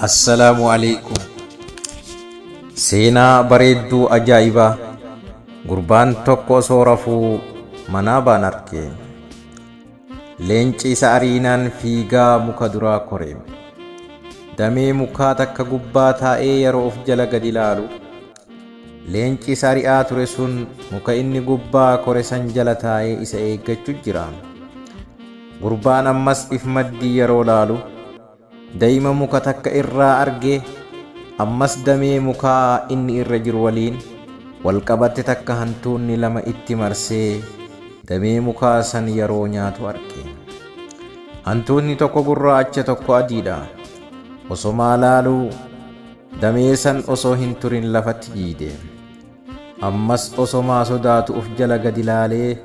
Assalaamu alaikum. Seenaa bareedduu ajaa'ibaa gurbaan tokko osoo rafuu manaa baan arke. Leenci isa ariinaan fiigaa muka duraa kore. Damee mukaa takka gubbaa taa'ee yeroo of jala gad ilaalu Leenci isa ari'aa ture sun muka inni gubbaa kore san jala taa'ee isa eeggachu jira. Gurbaan ammas if maddii yeroo laalu, dayima muka takka irraa argee, ammas damee mukaa inni irra jiru waliin wal qabatte takka hantuunni lama itti marsee damee mukaa san yeroo nyaatu arge. Hantuutni tokko gurraacha tokko adiidha. Osomaa laaluu, Damee san osoo hin turin lafatti jiiyde. Ammas osomaa sodaatu uf jala gadi laalee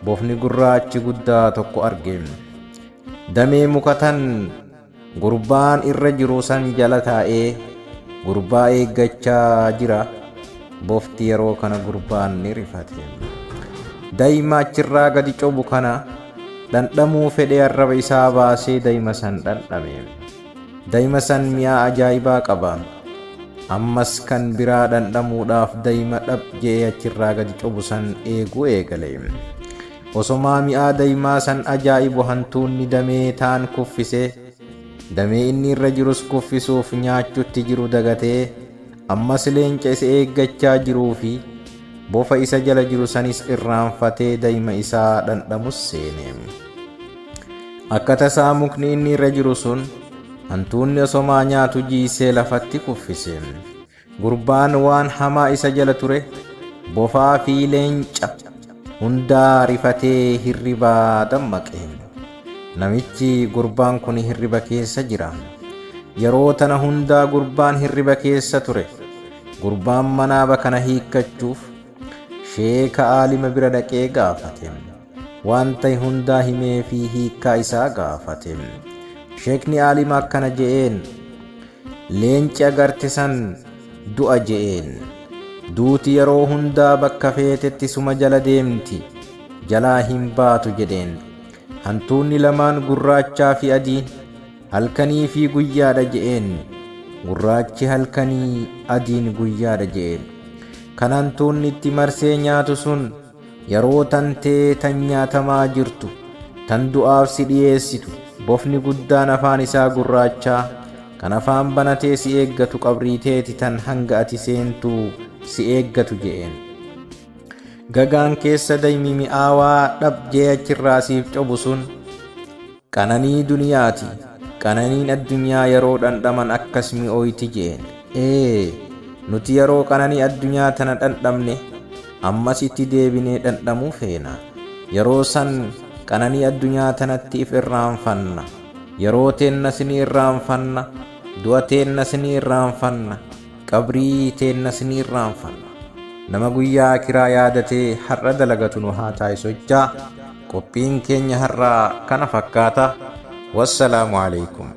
bofni gurraachi guddaa tokko arge. Damee muka tan gurbaan irra jiru san jala taa'ee gurbaa eeggachaa jira. Bofti yeroo kana gurbaan ni rifate. Dayma achirraa gadi cobu kana dhandhamuu fedhee arraba isaa baasee dayma san dhandhame. Daima san mi'aa ajaa'ibaa qaba. Ammas kan biraa dhandhamuudhaaf daima dhab je'ee achirraa gadi cobu san eeguu eegale. Osomaa mi'aa daimaa san ajaa'ibu hantuunni damee taan kuffise. Damee inni irra jirus kuffisuuf nyaachutti jiru dagatee ammas leenca isa eeggachaa jiruu fi bofa isa jala jiru sanis irraanfatee daima isaa dhandhamus seene. Akka tasaa mukni inni irra jiru sun hantuunni osomaa nyaatu jiisee lafatti kuffise. Gurbaan waan hamaa isa jala ture bofaa fi leenca hundaa rifatee hirribaa dammaqe. Namichi gurbaan kun hirriba keessa jira. Yeroo tana hundaa gurbaan hirriba keessa ture. Gurbaan manaaba kana hiikkachuuf Sheeka aalima bira dhaqee gaafate. Waan ta'e hundaa himee fi hiikkaa isaa gaafate. Sheekni aalima akkana je'een, Leenci agarte san du'a je'een. Duuti yeroo hundaa bakka feetetti suma jala deemti, jalaa hin baatu jedheen. Hantuunni lamaan gurraachaa fi adiin. Halkanii fi guyyaadha je'een. Gurraachi halkanii, adiin guyyaadha je'e. Kan hantuunni itti marsee nyaatu sun yeroo tantee tan nyaatamaa jirtu, tan du'aaf si dhiyeessitu, bofni guddaan afaan isaa gurraachaa, kan afaan banatee si eeggatu qabrii teeti tan hanga ati seentu si eeggatu je'een. Gagaan keessa daymi mi'aawaa dhab je'e achirraa siif cobu sun, Qananii duniyaati. Qananiin addunyaa yaroo dhandhaman akkas mi'ooyti je'een. Ee! Nuti yaroo qananii addunyaa tana dhandhamne, ammas itti deebinee dhandhamuu feena. Yaroo san qananii addunyaa tanatti if irraanfanna. Yaroo teennas ni irraanfanna, du'a teennas ni irraanfanna, qabrii teennas ni irraanfanna. Nama guyyaa aakhiraa yaadatee har'a dalagatu nu haa taasisu jechaa, Qophiin keenya har'aa kana fakkaata. Wassalaamu aleykum.